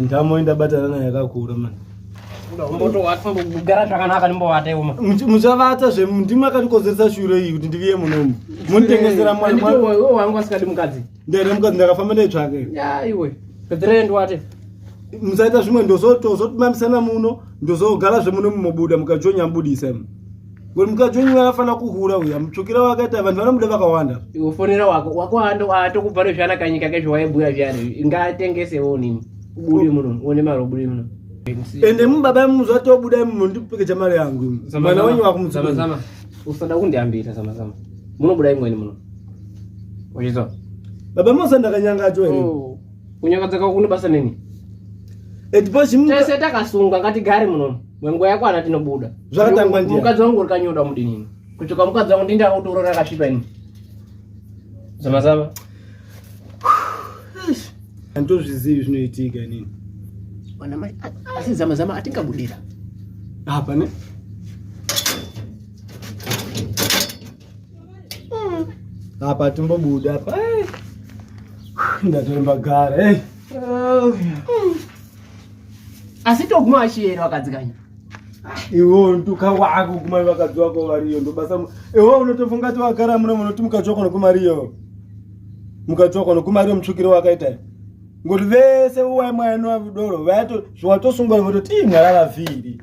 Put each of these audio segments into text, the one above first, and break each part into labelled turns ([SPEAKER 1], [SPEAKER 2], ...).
[SPEAKER 1] ndamo indabatana nayo yakakura mani motogara
[SPEAKER 2] zvakanaka ndimbovata iwo muchavata zve
[SPEAKER 1] ndimwe akandikonzeresa shure iyi kuti ndiviye munomu munditengesera mwaiwangu asikadi
[SPEAKER 2] mukadzi ndere mukadzi ndakafamba
[SPEAKER 1] ndaitsvake iwe
[SPEAKER 2] pediree ndiwate musaita
[SPEAKER 1] zvimwe ndozotozotmamisana muno ndozogara zvemunomu mobuda mukajonya mubudisa imo Wewe mkaji wenyu anafana kuhura uya mtsvukira wakaita vanhu vanomuda vakawanda. Iwe fonera wako
[SPEAKER 2] wako ando atokubvara zvana kanyika kezvo waibhuya zviyani ngatengese wo nini. Ubude muno uone mari ubude muno. Ende mubaba
[SPEAKER 1] muzwa tobuda muno ndipekeja mari yangu. Mwana wenyu wakumtsama. Zama usada
[SPEAKER 2] kundiambira zama zama. Munobuda imweni muno. Uchizwa? Baba
[SPEAKER 1] Musa ndakanyanga cho ere? Oh. Kunyanga dzaka
[SPEAKER 2] kunobasa nini? Etipo
[SPEAKER 1] chimu. Tese takasunga
[SPEAKER 2] ngatigare muno. Mwengo yako ana tinobuda. Zvakatangwa ndiye. Mukadzi
[SPEAKER 1] wangu ulikanyoda
[SPEAKER 2] mudinini. Kuchoka mukadzi wangu ndinda utorora akasvipa ini. Zama zama.
[SPEAKER 1] Andozvizivi zvinoitika inini. Wana mai
[SPEAKER 2] asi zama zama atingabudira. Hapa
[SPEAKER 1] ne? Hapa tumbobuda hapa. Ndatoremba gara. Eh. Hey. Oh, yeah.
[SPEAKER 2] asi toguma vachiyere vakadzi kanya iwo
[SPEAKER 1] nduka wako kuma vakadzi wako variyo ndobasa iwo unotofunga ti wagara muno munoti mukadzi wako nokumariyo mukadzi wako nokumariyo mutsvukiro wakaita ngoti vese uwaimwainwa vidoro vaito zviwatosungwa vototi imwarara vhiri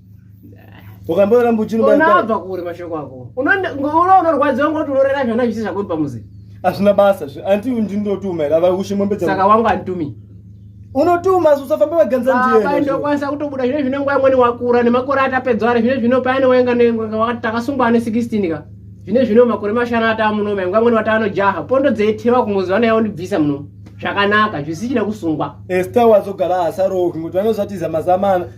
[SPEAKER 1] wakamboramba uchinoonabva kure mashoko
[SPEAKER 2] ako ngoura unorwadziwa ngoti unorera zvana zvisi zvakuri pamuzi hazvina basa
[SPEAKER 1] anti ndinotuma here avaushe mombe saka wangu anditumi
[SPEAKER 2] unotuma
[SPEAKER 1] usafambe vaganza ndiendokwanisa kutobuda zvine
[SPEAKER 2] zvine nguva imweni wakura nemakore atapedzwa ari zvine zvino paine wainga takasungwa ane 16 ka zvine zvino makore mashanu ataa muno mai nguva imweni wataanojaha pondo dzeithewa kumuzi vana yaundibvisa muno zvakanaka zvisichina kusungwa esta wazogara
[SPEAKER 1] asarooki ngokuti vanozvatiza mazamana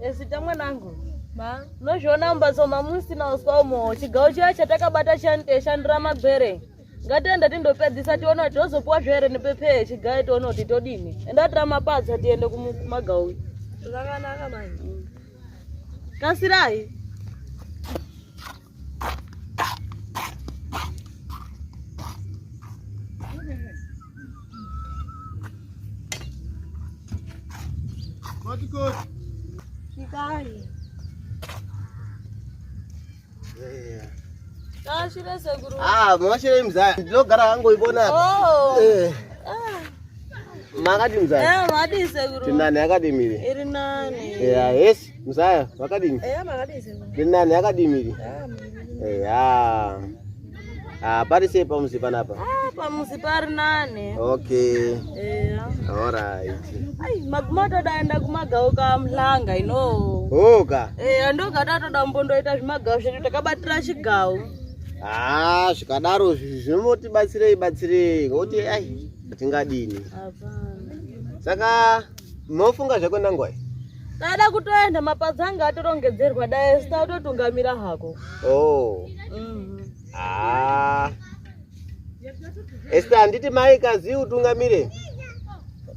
[SPEAKER 3] Ezita eh, mwanangu nozviona mumbatso mamusina uswa umo chigawo chiya chatakabata chandishandira eh, magwere ngatienda tindopedzisa tiona kuti tozopiwa zvere nepepee chigayo tiona kuti todini enda tira mapadza tiende kumagawo zvakanaka manje kasirai Ah, mwashire
[SPEAKER 4] mzaya ndinogara hangu ibona
[SPEAKER 3] oh.
[SPEAKER 4] eh. ah. makati mzaya eh, tinani
[SPEAKER 3] akadimire
[SPEAKER 4] iri nani
[SPEAKER 3] eh, yes Mzaya
[SPEAKER 4] vakadini? Eya makadini sisi. Ndiri
[SPEAKER 3] nani akadini miri?
[SPEAKER 4] Eya. Ah, pari sei pamuzi panapa? Ah, pamuzi pari
[SPEAKER 3] nani. Okay. Eya.
[SPEAKER 4] All right. Ai,
[SPEAKER 3] maguma todaenda kumagawo ka mhlanga ino. Hoka. Eya,
[SPEAKER 4] ndoga tatoda
[SPEAKER 3] mbondoita zvimagawo zvedu takabatira chigawo. Ah,
[SPEAKER 4] zvikadaro zvinotibatsirei batsirei ngokuti ai tingadi ini.
[SPEAKER 3] Hapana. Saka
[SPEAKER 4] Mofunga zvako nangwai? Tada kutoenda
[SPEAKER 3] mapazi anga atorongedzerwa dai sita utotungamira hako. Oh. Mm.
[SPEAKER 4] Ah. Esta anditi mai kazi utungamire.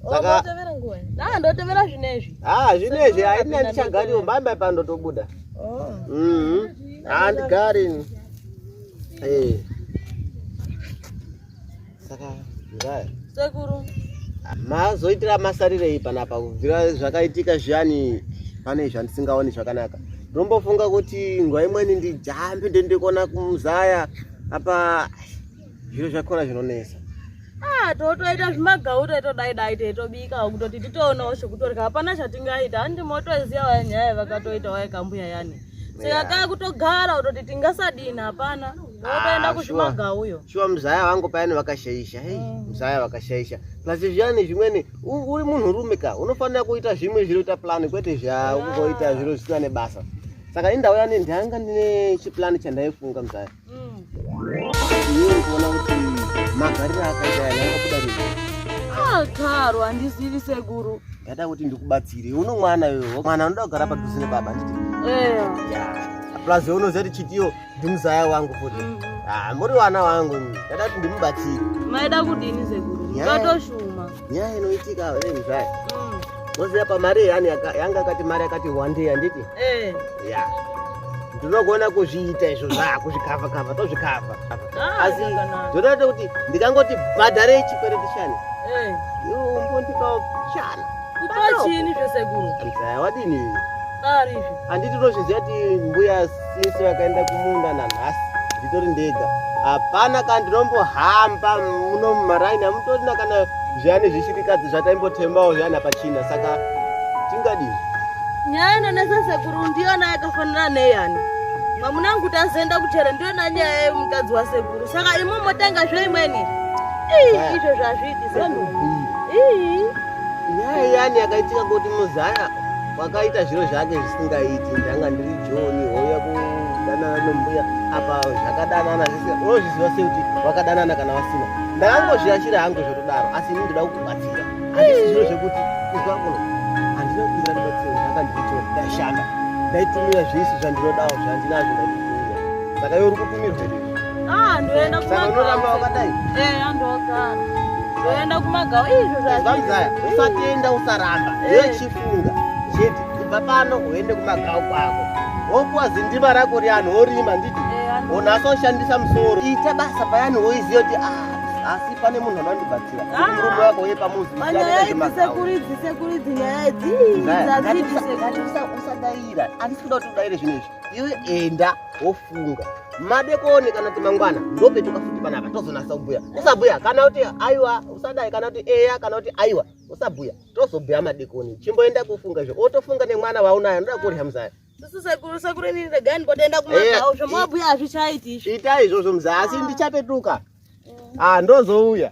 [SPEAKER 4] Oh,
[SPEAKER 3] Saka otevera nguwa. Ah, ndotevera zvinezvi. Ah, zvinezvi haina
[SPEAKER 4] ndichagari umbamba pandotobuda. Oh. Mhm. Mm Andigari. Eh. Hey. saka nzaya sekuru
[SPEAKER 3] mazoitira
[SPEAKER 4] masarirei panapa kubvira zvakaitika zviyani pane zvandisingaoni zvakanaka ndombofunga kuti nguva imweni ndijambi ndendikona kumuzaya apa zviro zvakona zvinonesa ah, totoita
[SPEAKER 3] zvimagau taitodai dai taitobikawo kutoti titoonawo zvekutorya hapana zvatingaita handimotoziva waya nyaya vakatoita waye kambuya yani saka kaa kutogara kutoti tingasadini hapana otoenda ah, kuzvimaga uyo shuwa muzaya vangu
[SPEAKER 4] payani vakashaisha hei mm. muzaya vakashaisha plus zviyani zvimweni uri munhu rume ka unofanira kuita zvimwe zvinoita plan kwete zvaungoita ah. zviro zvisina nebasa saka indauya nendanga ndine chiplani chandaifunga muzaya karo handizivi
[SPEAKER 3] sekuru ndada kuti ndikubatsire
[SPEAKER 4] uno mwana yoyo mwana anoda kugara padhuze nebaba nditi plus unoziva kuti chitiyo ndimuzaya wangu futi mm. ah, muri wana wangu ndada kuti ndimubatsire maida kudini
[SPEAKER 3] sekuru ukatoshuma nyaya inoitika
[SPEAKER 4] hey, mzaya mm. moziva pamari yani yanga akati mari yakati wande handiti hey. Eh. yeah. ndinogona kuzviita izvo zva kuzvikava kava tozvikava ah, asi zvotoita kuti ndikangoti bhadharei chikwereti chani hey. Eh. yombondipawo chana kutochini
[SPEAKER 3] zvesekuru mzaya wadini anditi unozviziva
[SPEAKER 4] ti mbuya sisi vakaenda kumunda nanhasi nditori ndega hapana kana ndinombohamba muno mumaraini hamutorina kana zviani zvishirikadzi zvataimbotemawo zviani apachina saka tingadii nyaya
[SPEAKER 3] inonesa sekuru ndiyona yakafanira neyani mamunangu tazoenda kuchera ndiyona nyaya yemukadzi wasekuru saka imi motanga zveimweni izvo zvazviiti sekuru nyaya
[SPEAKER 4] yani yakaitika kuti muzaya wakaita zviro zvake zvisingaiti ndanga ndiri joni houya kudanana nombuya apa zvakadanana zvisina unozviziva sei kuti wakadanana kana vasina ndakangozviashira hangu zvotodaro asi ini ndoda kukubatsira handisi zviro zvekuti izwa kuno handina kukumbira ndibatsiro ndanga ndiri joni ndaishanda ndaitumira zvese zvandinodawo zvandinazvo ndaitumira saka yo uri kutumirwa Ah, ndoenda
[SPEAKER 3] kumagaukadai eh, andogara
[SPEAKER 4] ndoenda
[SPEAKER 3] kumagau izvo zvazvazaya
[SPEAKER 4] usatenda usaramba eh. echifunga chete kubva pano uende kumagau kwako wokuwa zindima rako rianhu worima nditi eh, onasa ushandisa musoro ita basa payani woiziva kuti ah asi pane munhu anondibatsira ah. murume wako uye pamuziusadaira
[SPEAKER 3] andisi
[SPEAKER 4] kuda kuti udaire zvinhu izvi iwe enda wofunga madekoni kana kuti mangwana ndopetuka futi panapa tozonasa kubhuya usabhuya kana kuti aiwa usadai kana kuti eya kana kuti aiwa usabhuya tozobhuya madekoni chimboenda kufunga izvo otofunga nemwana vaunayo anoda kurya muzaya
[SPEAKER 3] ita izvozvo muzaya asi
[SPEAKER 4] ndichapetuka ah, ndozouya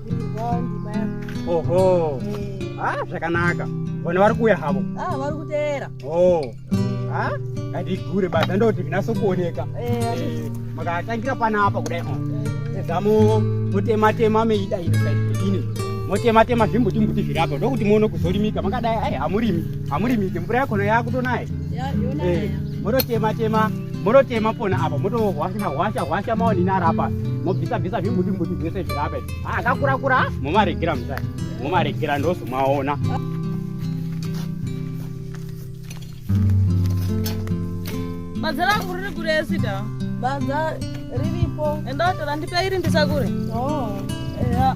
[SPEAKER 3] oho
[SPEAKER 5] ha ah, zvakanaka vana vari kuuya havo ah, vari kuteera
[SPEAKER 3] o ha ah,
[SPEAKER 5] ngatigure basa ndoti vinase kuoneka eh, makatangira panapa kudai zamo motematema meida ini motematema zvimbuti mbuti zviri apa ndokuti muone kuzorimika makadai ai hamurimike mvura yakona yakutonaye eh, mototematema monotema pona apa motohwasha hwasha hwasha maonini ari apa mobvisa bvisa zvimbuti mbuti zvese zviri apa ah, akakura kura momaregera mutai momaregera ndozomaona
[SPEAKER 3] badza rangu riri kuresida badza
[SPEAKER 6] riripo enda watora ndipa
[SPEAKER 3] iri ndisakure oh.
[SPEAKER 6] yeah.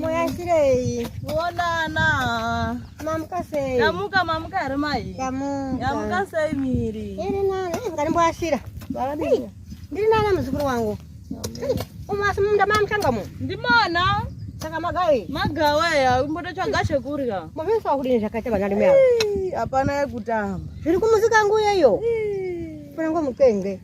[SPEAKER 3] Moyashirei. Kuonana. Mamuka
[SPEAKER 6] sei? Yamuka mamuka here mai?
[SPEAKER 3] Yamuka. Yamuka sei miri? Iri nani? Eh,
[SPEAKER 6] Ngarimboashira. Varabira.
[SPEAKER 3] Ndiri nani
[SPEAKER 6] muzukuru wangu? Umasi munda mamchanga mu. Ndimona.
[SPEAKER 3] Saka magawi.
[SPEAKER 6] Magawa ya umboda
[SPEAKER 3] chaga chekurya. Mavesa wakudini zvakaita
[SPEAKER 6] vana rume ava? Hapana
[SPEAKER 3] yekutamba. Zviri kumusika
[SPEAKER 6] nguyeyo. Kuna ngomukenge.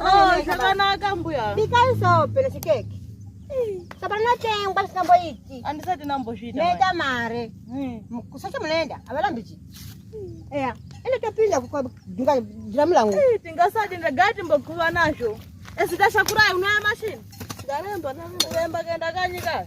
[SPEAKER 6] Oh, zvakanaka
[SPEAKER 3] mbuya. Bikai sope nechikeke.
[SPEAKER 6] Sope rinotengwa zvisingamboiti. Handisati ndambozviita.
[SPEAKER 3] Meta mare.
[SPEAKER 6] Hmm. Kusacha munoenda, havarambi chii. Hmm. Eya, ende topinda kudinga dhiramu langu. Eh, tingasati ndagara
[SPEAKER 3] timbokuva nazvo. Esi tashakurai unaya mashini. Ndaremba, ndaremba kuenda kanyika.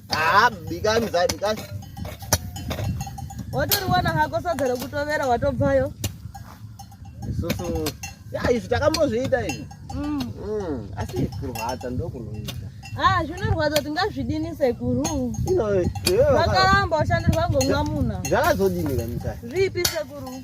[SPEAKER 4] Haa bikani zai bikani.
[SPEAKER 3] Watoriwana hako sadza rekutovera watobvayo.
[SPEAKER 4] Isusu ya izvi takambozviita izvi. Mm. Mm. Asi kurwadza ndokunoita. Ah, zvinorwadza
[SPEAKER 3] tingazvidini sekuru. Ino.
[SPEAKER 4] Vakaramba
[SPEAKER 3] ushandirwa ngomwamuna. Zvakazodini kamisa.
[SPEAKER 4] Zvipi sekuru?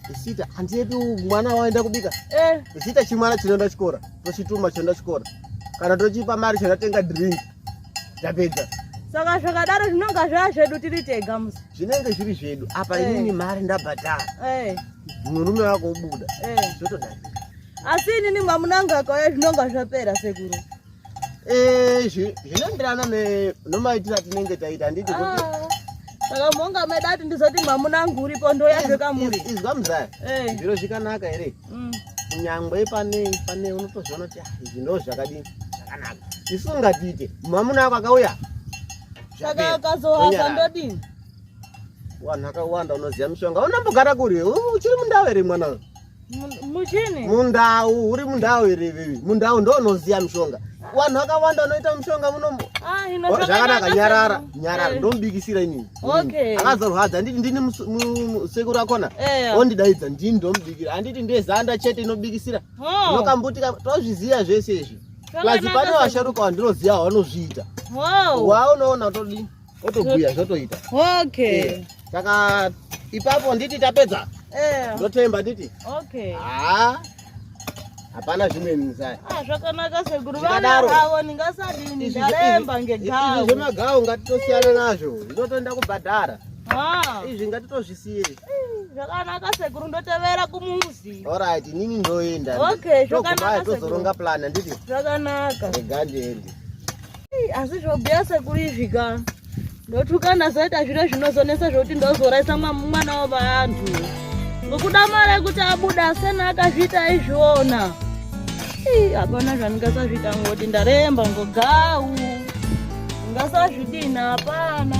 [SPEAKER 4] Zita handiepi mwana waenda kubika eh. Zita chimwana chinoenda chikora tochituma chinoenda chikora kana tochipa mari chinotenga drink tapedza saka
[SPEAKER 3] zvakadaro zvinonga zvaa zvedu tiri tega musi zvinenge zviri zvedu
[SPEAKER 4] apa eh. inini mari ndabhadhara eh. murume wako ubuda eh. zvotodarika asi
[SPEAKER 3] inini mamunanga akauya zvinonga zvapera sekuru Eh, zvinoenderana
[SPEAKER 4] nomaitiro atinenge taita handiti ah, saka
[SPEAKER 3] monga maida kuti ndizoti mwamuna angu uripo ndoyazve kamuri izwa muzaya eh.
[SPEAKER 4] zviro zvikanaka here mm. kunyangwe pane pane unotozviona kuti ah, izvi ndo zvakadini zvakanaka isu ungatiite mwamuna ako akauya saka
[SPEAKER 3] akazohasa ndodini
[SPEAKER 4] wanhu akawanda unoziva mishonga unambogara kuri uchiri mundau here mwana Muchini?
[SPEAKER 3] Mundau, uri
[SPEAKER 4] mundau here iwewe? Mundau ndo unoziya mishonga. Vanhu vakawanda vanoita mishonga muno. Ah, oh, zvakanaka nyarara, nyarara eh. ndomubikisira inini. Okay. Akazorwadza anditi ndini sekuru akona. Eh. Ondidaidza ndini ndomubikira. Anditi ndiye zanda chete inobikisira. Oh. Unokambutika tozviziya zvese izvi. Plus pane vasharuka vandinoziya vanozviita. Wow. Waunoona todii? otobhuya zvotoita okay eh, saka ipapo nditi tapedza eh. ndotemba nditi okay haa ah, hapana zvimwe muzaya ah, zvakanaka sekuru
[SPEAKER 3] vana avo ndingasadini ndaremba ngegawo zvemagawo
[SPEAKER 4] ngatitosiyana nazvo zvinotoenda kubhadhara ah. izvi ngatitozvisiye zvakanaka
[SPEAKER 3] sekuru ndotevera kumuzi orit inini
[SPEAKER 4] ndoenda okay zvakanaka tozoronga plan
[SPEAKER 3] handiti
[SPEAKER 4] zvakanaka regandiende
[SPEAKER 3] asi zvobhuya sekuru izvi ka ndotukana zoita zviro zvinozonesa zvokuti ndozoraisa mwana wavanhu ngokuda mari yekuti abuda asena akazviita izviona hapana zvandingasazviita ngoti ndaremba ngogau ngasazvidini hapana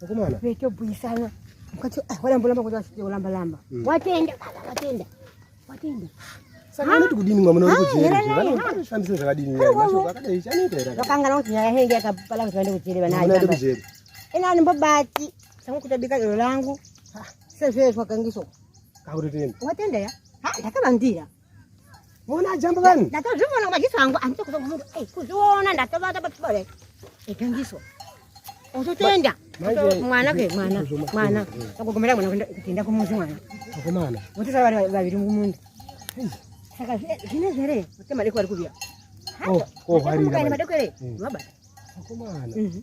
[SPEAKER 6] Mukomana. Veto
[SPEAKER 4] buyisana.
[SPEAKER 6] Mukati ah wala mbolamba kuti wasite ulamba lamba. Mm. Watenda baba watenda. Watenda.
[SPEAKER 4] Saka unoti kudini mwa munoda kujeri. Vanofambisa zvakadini nyaya. Mashoko akadai chanoita era. Vakangana kuti nyaya henge
[SPEAKER 6] yakapala kuti vande kujeri vana. Vana kujeri.
[SPEAKER 4] Ina ndimbobati.
[SPEAKER 6] Sangu kutabika iro langu. Sezvezwa kangiso. Kakutotenda.
[SPEAKER 4] Watenda ya?
[SPEAKER 6] Ha ndakabandira.
[SPEAKER 4] Mona jambo vanhu. Ndatozviona maziso angu
[SPEAKER 6] andito kuzo munhu. Eh kuzviona ndatovata pachibare. Ikangiso. Ototenda. Mwana ke mwana. Mwana. Akugomera mwana kwenda kutenda kumuzi mwana. Akomana. Mutisa
[SPEAKER 4] vari vaviri
[SPEAKER 6] mumundu. Saka zvine zvere. Kuti madeko ari kubiya. Oh, oh, hari.
[SPEAKER 4] Madeko ere.
[SPEAKER 6] Mabata. Akomana. Mhm.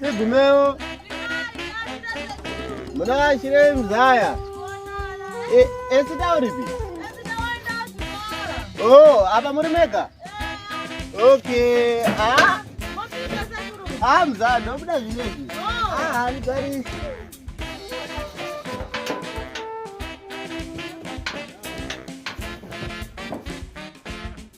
[SPEAKER 4] Tigumeo. Muna shire mzaya. E esita uripi? Oh, apa muri mega? Okay. Ah. Ah, mzaya, ndobuda zvinezvi. Ah, ari gari.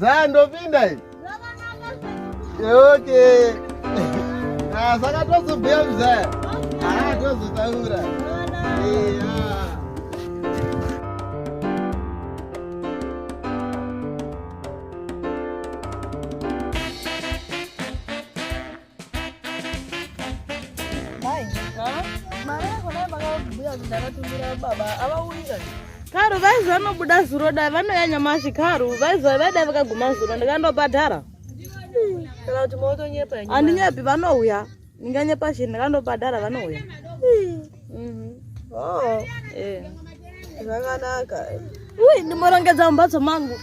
[SPEAKER 4] Zaa ndopinda iyi. Okay. Ah, saka tozobhuya mzaya. Ah, tozotaura. Eh, ah.
[SPEAKER 3] karu vaizi vanobuda zuro dai vanouya nyamashi karu vaizi vaidai vakaguma zuro ndikandobhadhara
[SPEAKER 7] handinyepi vanouya
[SPEAKER 3] ndinganyepa chii ndikandobhadhara vanouya Mhm. Oh.
[SPEAKER 7] Eh. Zvakanaka. Uy, ndimorongedza
[SPEAKER 3] mumbatso mangu.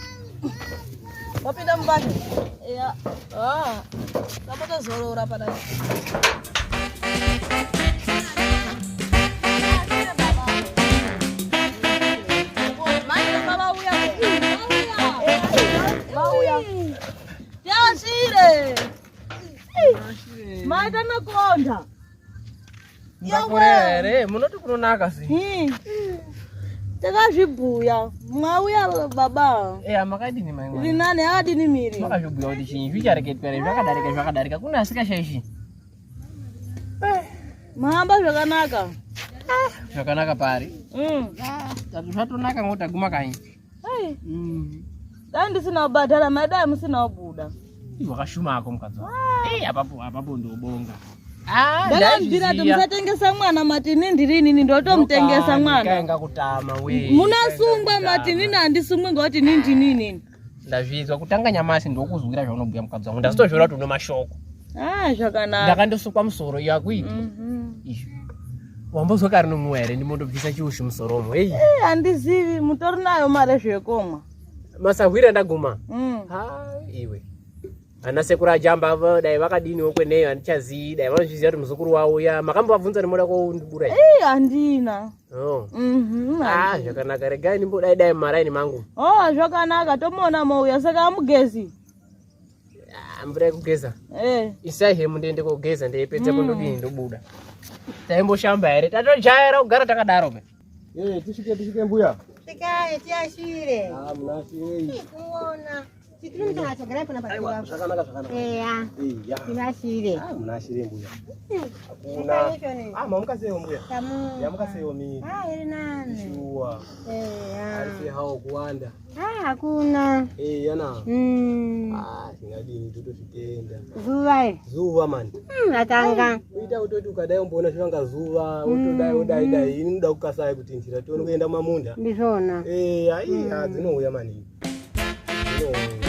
[SPEAKER 7] Wapinda mubani?
[SPEAKER 3] Yeah.
[SPEAKER 7] Ah. Ndapota
[SPEAKER 3] zorora pana. Mai tanakonda. Yakurere,
[SPEAKER 2] munoti kunonaka sei? Hmm. Takazvibhuya,
[SPEAKER 3] mwauya baba. Eh, makadini mai mwana?
[SPEAKER 2] Rinani akadini miri?
[SPEAKER 3] Makazvibhuya kuti chinyi
[SPEAKER 2] zvichareketwa here zvakadarika zvakadarika kuna asikashaishi. Eh.
[SPEAKER 3] Mahamba zvakanaka. Zvakanaka
[SPEAKER 2] pari? Mm. Zvatonaka ngotaguma kanyi. Hey. Mm.
[SPEAKER 3] Dai ndisina kubhadhara mai dai musina kubuda. Wakashuma ako
[SPEAKER 2] mukadzi wako. Ah. Eh, apapo apapo ndobonga. Ah, ndakambira
[SPEAKER 3] kuti musatengesa mwana matini ndiri inini ndotomutengesa mwana.
[SPEAKER 2] Munasungwa matini
[SPEAKER 3] nandisungwe ngokuti nini ndinini. Ndazvizwa
[SPEAKER 2] kutanga nyamasi ndokuzwira zvaunobhuya mukadzi wangu. Ndazvitozvira kuti une mashoko. ah zvakanaka
[SPEAKER 3] ndakandosukwa musoro
[SPEAKER 2] iyo akuiti mm -hmm. wambozwa kari nomumwe here ndimondobvisa chiushi musoro omo hei eh, handizivi
[SPEAKER 3] hey, mutori nayo mari zvekomwa masahwira
[SPEAKER 2] ndaguma mm. ha iwe ana sekuru ajamba avo dai vakadiniwo kweneyo handichazii dai vanozviziva kuti muzukuru wavo uya makambovabvunza nemoda kwaundibura e eh, handina
[SPEAKER 3] oh. mhm, ah,
[SPEAKER 2] zvakanaka regai ndimbodaidai mumaraini mangu
[SPEAKER 3] o oh,
[SPEAKER 2] zvakanaka
[SPEAKER 3] tomuona
[SPEAKER 2] mouya
[SPEAKER 3] saka amugezi
[SPEAKER 2] mvura yekugeza eh. isai hemu ndiende kogeza ndeipedza hmm. kundodii ndobuda taimboshamba here tatojaira kugara takadaro pe eh, tisvike tisvike
[SPEAKER 1] mbuya tikai
[SPEAKER 6] tiashire ah, munasirekuona zvakanaka
[SPEAKER 1] Ah, hakuna.
[SPEAKER 6] Eh, yana.
[SPEAKER 1] Mm. Ah, singadini totozvitenda. Zuva eh. Zuva man. Mm, atanga.
[SPEAKER 6] Uita utoti ukadai
[SPEAKER 1] umboona zvanga zuva, utodai mm, udai dai. Mm. Ini ndoda kukasai kuti njira tione kuenda mamunda. Ndizvona. Eh,
[SPEAKER 6] ai, mm.
[SPEAKER 1] dzinouya maningi. Ndizvona.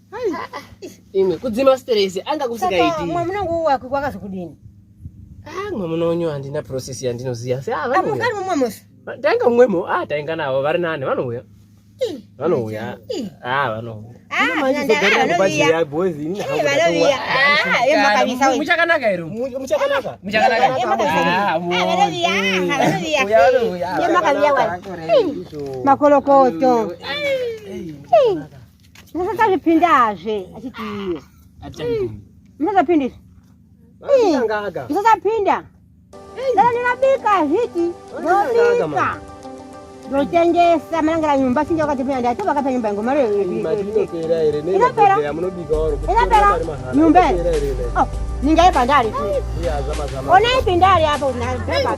[SPEAKER 2] imwe kudzima stress anga kusikaiti mwamuna nguwo wako
[SPEAKER 6] kwakazokudini ah
[SPEAKER 2] mwamuna wenyu handina process yandinoziva se ah vanhu kari mwamwamwese
[SPEAKER 6] tainga mwemo
[SPEAKER 2] ah tainga navo vari nani vanouya vanouya ah vanouya muchakanaka here muchakanaka
[SPEAKER 6] makolokoto musasazvipindazve achiti iye musasapinda izvi musasapinda dana ndinobika zviti ndobika ndotengesa manangera nyumba sinja wakatipinda ndati vakapa nyumba yangu mari
[SPEAKER 1] inopera
[SPEAKER 6] inopera
[SPEAKER 1] nyumba
[SPEAKER 6] oh, ningaipa ndari onaipindari apo
[SPEAKER 2] naaa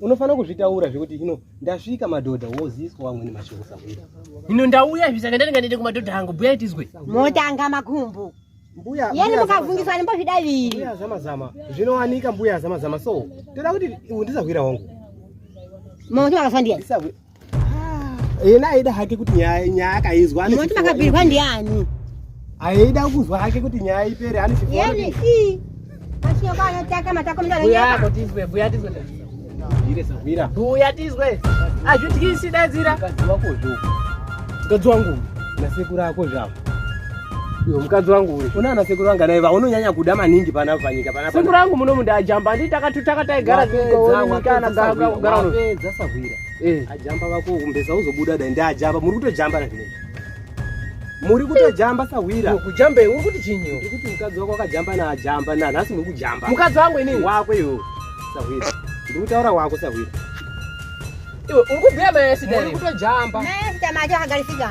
[SPEAKER 1] unofanira kuzvitaura zvekuti ino ndasvika madhodha woziswa wamweni mashoko sahwira ino ndauya izvi
[SPEAKER 2] saka ndaringa ndiende kumadhodha angu buya tizwe motanga makumbu
[SPEAKER 6] mbuya yani
[SPEAKER 1] mukavhungiswa
[SPEAKER 6] nembozvidaviri mbuya zamazama
[SPEAKER 1] zvinowanika mbuya zamazama so toda kuti ndisahwira wangu mama
[SPEAKER 6] kuti makafandia
[SPEAKER 1] yena aida hake kuti nyaya akaizwa moti makabirwa
[SPEAKER 6] ndiani aida
[SPEAKER 1] kuzwa hake kuti nyaya ipere ani chiyeni i
[SPEAKER 6] asiyo kana taka matako mndana nyaya buya tizwe buya
[SPEAKER 2] tizwe ire
[SPEAKER 1] sahwira buya tizwe
[SPEAKER 2] azvityisi dadzira mukadzi wako
[SPEAKER 1] zvo mukadzi wangu na sekuru ako zvavo Yo mukadzi wangu uyu una ana sekuru vanga naye vaunonyanya kuda maningi pana panyika pana sekuru wangu muno munda
[SPEAKER 2] ajamba nditaka tutaka taigara zvingo kana gara gara gara sahwira
[SPEAKER 1] Eh. Ajamba vako umbeza uzobuda dai ndi ajamba muri kutojamba na zvine. Muri kutojamba sa hwira. Kujamba uri kuti chinyi?
[SPEAKER 2] Uri kuti mukadzi wako akajamba
[SPEAKER 1] na ajamba na nhasi muri kujamba. Mukadzi wangu ini wako
[SPEAKER 2] yo.
[SPEAKER 1] Sa hwira. Ndiri kutaura wako sa hwira. Iwe
[SPEAKER 2] uri kubhuya mai sida. Muri kutojamba.
[SPEAKER 1] Mai sida macho
[SPEAKER 6] akagarisika.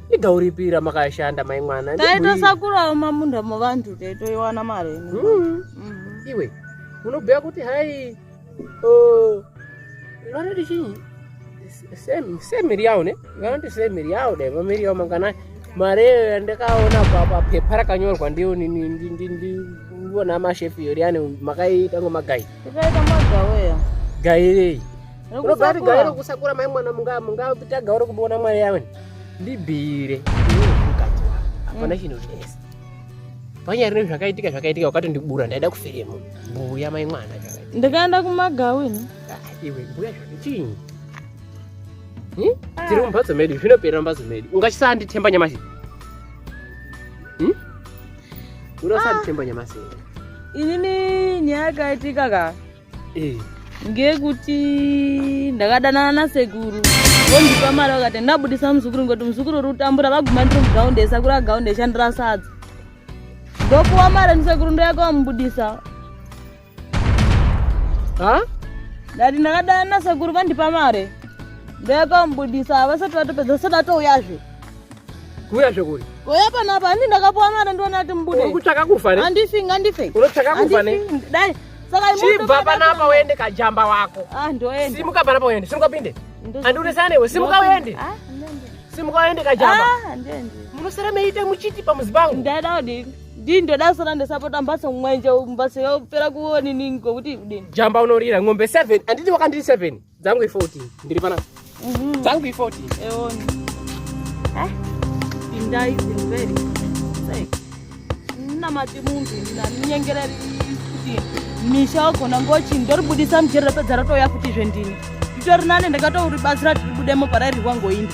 [SPEAKER 2] igauripira makashanda mai mwana taitosakurawo
[SPEAKER 3] mamunda muvantu taitoiwana mari mm. mm.
[SPEAKER 2] iwe unobhuya kuti hai vanoti chii semiri yawo ne vanoti semiri yawo dai vamiri yawo mangana mari eyo yandakaona papepa rakanyorwa ndiyo ndivona mashefi yoriyani makaiita ngomagai
[SPEAKER 3] gai rei
[SPEAKER 2] Robert gairo kusakura mai mwana munga munga taga uri kubona mwana yawe ndibire hapana mm. chinhu zvese panyari ne zvakaitika zvakaitika wakati ndibura ndaida kufire mu mbuya mai mwana ndikaenda kumagawini
[SPEAKER 3] ah, iwe mbuya
[SPEAKER 2] zvichinyi hmm? ah. tiri mumbatso medu zvinopera mumbatso medu ungachisanditemba nyamasi hmm? unosanditemba ah. nyamasi inini
[SPEAKER 3] nyaya yakaitika ka eh. ngekuti ndakadanana nasekuru vondipa mari vakati ndabudisa muzukuru ngoti muzukuru uri kutambura vaguma ndiri mugaunde esakura gaunde eshandira sadza ndopuwa mari ndisekuru ndoyakawamubudisa ha ndati ndakadana nasekuru vandipa mari ndoyakamubudisa havasati vatopedza vasati vatouyazve
[SPEAKER 2] kuuyazve kuri koya panapa handi
[SPEAKER 3] ndakapuwa mari ndiona ati mubude kutsvaka kufa handifi
[SPEAKER 2] ngandife unotsvaka
[SPEAKER 3] kufa
[SPEAKER 2] dai
[SPEAKER 3] chibva panapa
[SPEAKER 2] uende kajamba wako ah, simuka panapa
[SPEAKER 3] uende simuka
[SPEAKER 2] pinde andiunesana newe simuka uende ah, simuka uende kajamba ah, munosara
[SPEAKER 3] meita
[SPEAKER 2] muchiti pamuzi pangu ndaida udini
[SPEAKER 3] ndii ndoda sara ndisapota mbatso mwenje mbatso yopera kuonini ngokuti udini jamba unorira ng'ombe
[SPEAKER 2] seven anditi wakandiri seven Dzangu i 14. Ndiri pana. Mhm. Dzangu i 14. Eoni.
[SPEAKER 3] Eh? Pindai zimveri. Sei. Namati munhu na nyengereri kuti misha wagona ngochi ndoribudisa mjeri rapedza ratouya futi zve ndini. Nditori nane ndakatouri basi rati ribudemo parairihwa ngoindi.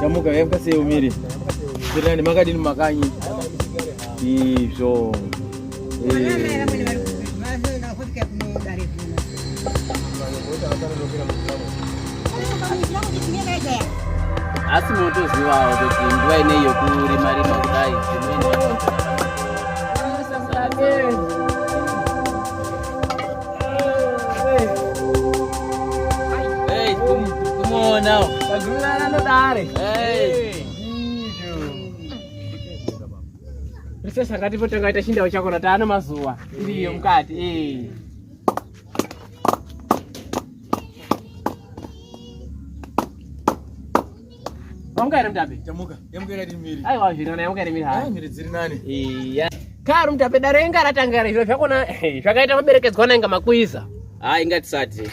[SPEAKER 8] Tamuka yamuka sei umiri? Zirani makadini makanyi? Izvo. Eh. Asi motozivawo kuti nguva inei yokurima rima kudai.
[SPEAKER 2] Princess akati potanga ita chindawo chako nataano mazuva iriyo mukati eh. Yamuka here mutape? Yamuka. Yamuka iri ati
[SPEAKER 9] miri. Aiwa zviri nani yamuka iri miri
[SPEAKER 2] hai. Miri dziri nani. Iya. Karu mutape dare inga ratanga iri zviro zvakona eh, zvakaita maberekedzwa na inga makuiza. Ah inga tisati.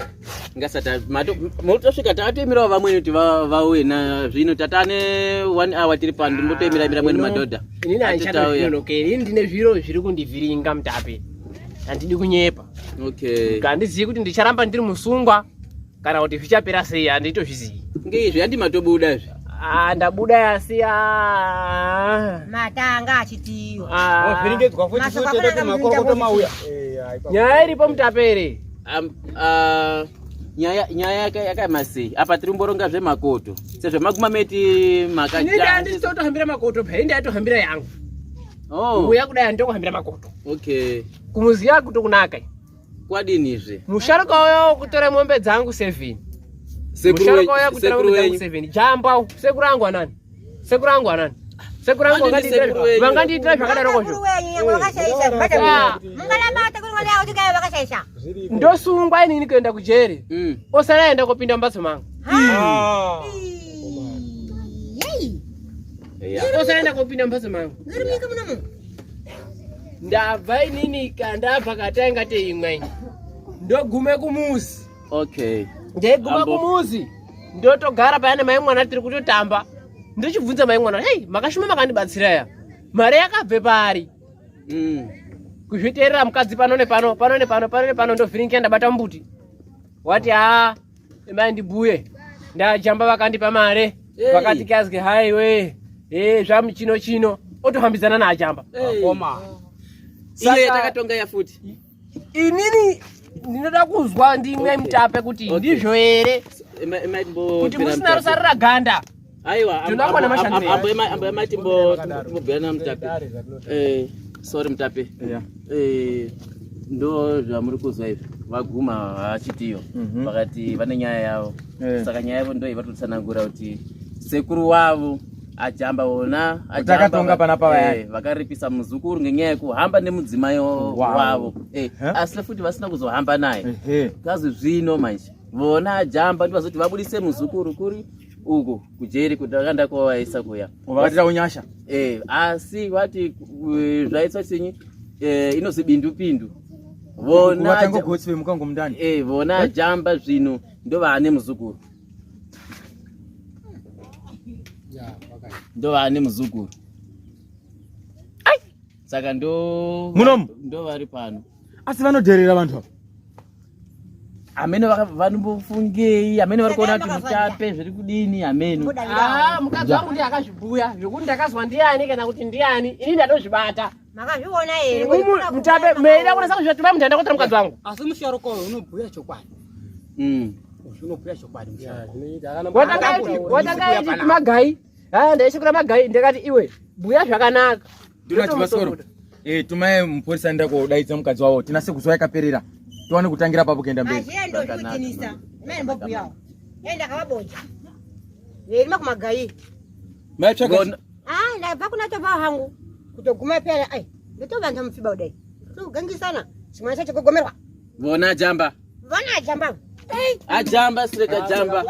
[SPEAKER 8] Inga sata mato motosvika tatoimirawo vamweni kuti vauye na zvino tatane 1 hour tiri pano ndimbotoimira imira mweni madhodha. Ini na ndichatoya.
[SPEAKER 2] Okay, ini ndine zviro zviri kundivhiringa mutape. Handidi kunyepa. Okay.
[SPEAKER 8] Kandizivi kuti ndicharamba
[SPEAKER 2] ndiri musungwa. kana kuti zvichapera sei handitozvizivi ngeizvi handi
[SPEAKER 8] matobuda izvi Ah, ndabuda
[SPEAKER 2] yasiya matanga
[SPEAKER 6] achitiyo Ah. wavhiringedzwa futi
[SPEAKER 5] Mashoko futi akanaka kuti makorokoto muzinda mauya nyaya iripo
[SPEAKER 2] mutapere Am- ah, nyaya
[SPEAKER 8] nyaya yaka- yakaema sei apa tiri kumboronga zvemakoto sezvemaguma meti inini makaja handisitotohambira
[SPEAKER 2] makoto phe inde atohambira yangu oh mbuya kudai handitokuhambira makoto okay
[SPEAKER 8] kumuziya
[SPEAKER 2] kutokunaka kwadinizve
[SPEAKER 8] musharuka uyo
[SPEAKER 2] kutora mombe dzangu seven musharuka uyo kutora mombe dzangu seven jamba sekuru angu anani sekuru angu anani sekuru angu vangandiitira zvakadarokozvo ndosungwa inini kuenda kujeri mm. osara aenda kopinda mumbatso mangu ah. osara aenda kopinda mumbatso mangu ndabva inini kandabva katainga teimwe ndogume kumuzi okay
[SPEAKER 8] ndaiguma
[SPEAKER 2] kumuzi ndotogara payana mai mwana tiri kutotamba ndichibvunza mai mwana hei makashuma makandibatsira ya mari yakabve pari mm. kuzviteerera mukadzi pano nepano pano nepano pano nepano ndovhiringia ndabata mbuti wati haa Mai ndibhuye ndajamba vakandipa mare vakati kazwi hai we eh zvamuchino chino otohambidzana naajamba akoma
[SPEAKER 5] iye
[SPEAKER 8] takatonga ya futi inini
[SPEAKER 2] ndinoda kuzwa ndimwe mutape kuti ndizvo here kuti musina rusarira ganda aiwa
[SPEAKER 8] ambuya mai timbobhuyana mutapi eh, sorry mutapi eh, ndo zvamuri kuzwa izvi vaguma vachitiyo mhm. vakati vane nyaya yavo eh. saka nyaya yavo ndoyi vatotsanangura kuti sekuru wavo ajamba ona ajamba pana pava
[SPEAKER 9] eh, vakaripisa muzukuru
[SPEAKER 8] ngenyaya yekuhamba nemudzimai wavo eh, asi futi vasina kuzohamba naye kazi zvino manje vona ajamba ndivazoti vabudise muzukuru kuri uku kujeri kutakanda kwavaisa kuya vakatira unyasha
[SPEAKER 9] eh asi
[SPEAKER 8] vati eh, zvaitwa chinyi eh inozi bindu pindu vona vatango gotsi vemukango
[SPEAKER 9] mundani eh vona eh? jamba
[SPEAKER 8] zvino ndovane muzukuru yeah okay ndovane muzukuru saka ndo munomu ndo vari pano asi vanodherera
[SPEAKER 9] vanhu ava
[SPEAKER 8] ameno vanombofungei ameno vari kuona kuti mutape zviri kudini ameno ah, mukadzi wangu
[SPEAKER 2] ndiye akazvibhuya zvekuti ndakazwa ndiani kana kuti ndiani ini ndatozvibata makazviona
[SPEAKER 6] here mutape meida
[SPEAKER 2] kunasa kuzvivativa mutanda kuitira mukadzi wangu asi musharuka uyo
[SPEAKER 5] unobhuya chokwadi mm. unobhuya chokwadi musharuka watanga
[SPEAKER 2] ichi kumagai ah, ndaishikura magai ndakati iwe bhuya zvakanaka Ndona chibasoro.
[SPEAKER 9] Eh, tumaye mupurisa nda kudaidza mukadzi wawo. Tinase kuzwa yakaperera. Tuwane kutangira papo kuenda mberi. Azhendo zvikinisa.
[SPEAKER 6] Mai mbobu yawo. Enda kawabonja. Yerima kumagayi. Mai
[SPEAKER 9] chaka. Ah, la
[SPEAKER 6] bakuna to bawo hangu. Kutoguma pera ai. Ndotobanda mufiba udai. Tugangisana. Chimwana chacho kugomerwa. Vona jamba.
[SPEAKER 8] Vana ajamba. Ajamba sireka jamba.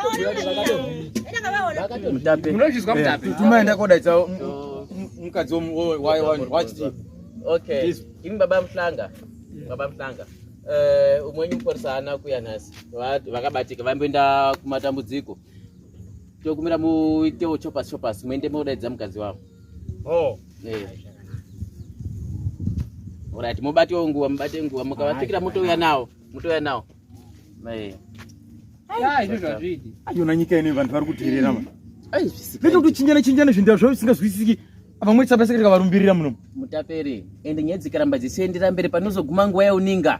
[SPEAKER 8] Mutape. Munozvizwa mutape. Eh,
[SPEAKER 2] Tumaenda kodaitsa
[SPEAKER 9] mukadzi wachiti.
[SPEAKER 8] Okay. Imi baba Mhlanga. Baba Mhlanga. Eh, umweni muporisa ana kuya nhasi vakabatika vaimboenda kumatambudziko tokumira muitewo chopas chopas muende modaidza mukadzi wavo Oh. Eh. Alright, mubate nguva, mubate nguva, mukavafikira motouya nawo, motouya nawo. Eh.
[SPEAKER 9] Ayona nyika ine vanhu vari kuterera ma. Ai, zvisikai. Vekuchinjana chinjana zvinhu zvavo zvisingazwisisiki vamwe tsapa sekere kavarumbirira muno mutapere
[SPEAKER 8] ende nyaya dzikaramba dzichienderera mberi panozoguma nguva yauninga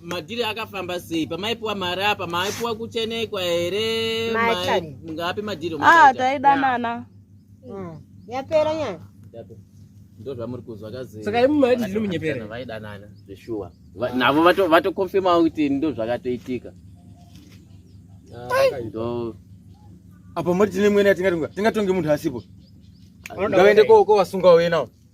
[SPEAKER 6] madhiri akafamba
[SPEAKER 8] sei pamaipiwa mari apa maipiwa kuchenekwa here ngapi madhiri ah, taidanana mm.
[SPEAKER 6] yapera nyaya
[SPEAKER 8] ndozvamuri kuzwa kazisaka imumadhiri munyepera
[SPEAKER 2] vaidanana zveshuwa
[SPEAKER 8] navo vatokonfirmawo kuti ndozvakatoitika ah, apa
[SPEAKER 9] moti tine mwene yatingatonga tingatonge munhu asipo ngavaende kowasunga wauye nawo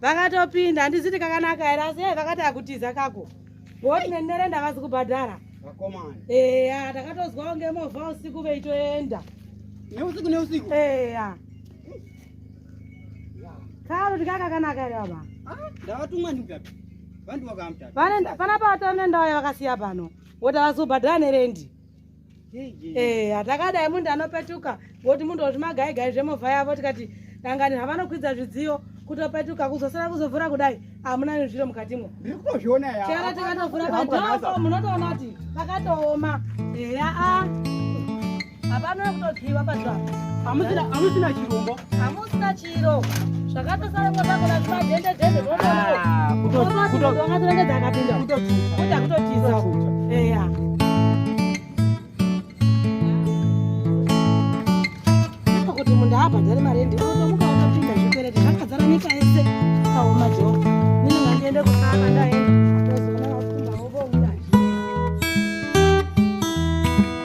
[SPEAKER 7] vakatopinda handiziti kakanaka here asi e vakati akutiza kako ngokuti nenderenda avazi kubhadhara
[SPEAKER 5] eya takatozwawo
[SPEAKER 7] ngemovha usiku veitoenda neusiku
[SPEAKER 5] neusiku eya
[SPEAKER 7] kalo tikakakanaka here baba ah, ndavatumwa
[SPEAKER 5] ndikapi vandiwakamta panapa vatori
[SPEAKER 7] nendawo yavakasiya pano woti avazi kubhadhara nerendi Eh, hatakadai munhu anopetuka ngoti munhu oti magaigai zvemovha yavo tikati dangani havanokwidza zvidziyo kutopetuka kuzosara kuzovhura kudai hamuna nezviro mukatimwo
[SPEAKER 5] chero tikatovhura padhoo
[SPEAKER 7] munotoona kuti pakatooma eya a hapana kutodziwa padhoo hamusina
[SPEAKER 5] chirombo hamusina chi
[SPEAKER 7] kuti munhu abhadhare mari endi otomuka wakapinda zvikwereti zvakadzara nyika yese akaoma jo mine ngandiende kusaka ndaenda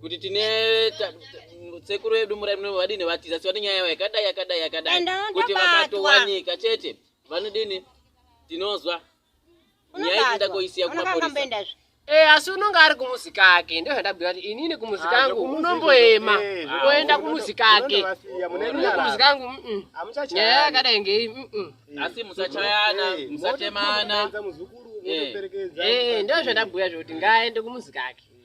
[SPEAKER 8] kuti tine sekuru vedu vadini vatiza siva nenyaya yavo yakadai yakadai yakadai kuti vakatowanika chete vanodini tinozwa nyaya inoda koisiya kumapurisa Eh asi unonga
[SPEAKER 2] ari kumuzi kake ndizvo ndabhuya kuti inini kumuzi ah, kangu unomboema eh, oenda kumuzi kake kumuzi kangu nyaya yakadai ngei asi
[SPEAKER 8] musachayana eh, musatemana eh, eh
[SPEAKER 2] ndizvo zvandabhuya zvokuti ngaaende kumuzi kake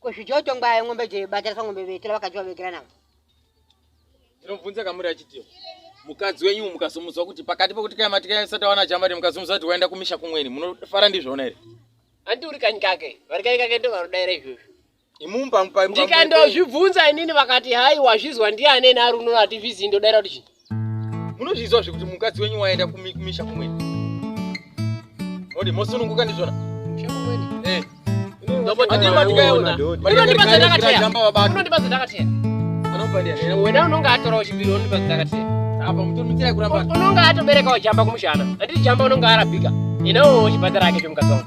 [SPEAKER 6] Kuzvijoto ngwaye ngombe je batira sa ngombe vetira vakajiwa vekira navo.
[SPEAKER 9] Tinobvunza kamuri achitiwa. Mukadzi wenyu mukazomuzwa kuti pakati pokuti kaya matika ya sata wana jambari mukazomuzwa kuti waenda kumisha kumweni munofara ndizvona here? Andi uri kanyi
[SPEAKER 2] kake. Vari kanyi kake ndo varodaira izvozvo. Imumba mpa mpa.
[SPEAKER 9] Ndikandozvibvunza
[SPEAKER 2] inini vakati hai wazvizwa ndiani ena ari unono atizvizi ndodaira kuti chii. munozviziva
[SPEAKER 9] zvekuti mukadzi wenyu waenda kumisha kumweni odi mosununguka ndizvona eh. wena unonge atorawo chipiri
[SPEAKER 2] ondipa zidakateya apa mutomitira
[SPEAKER 9] kuramba unonge atoberekawo
[SPEAKER 2] jamba kumushana anditi jamba unonge arabika ina uchibhadhara ake chomukadzi wangu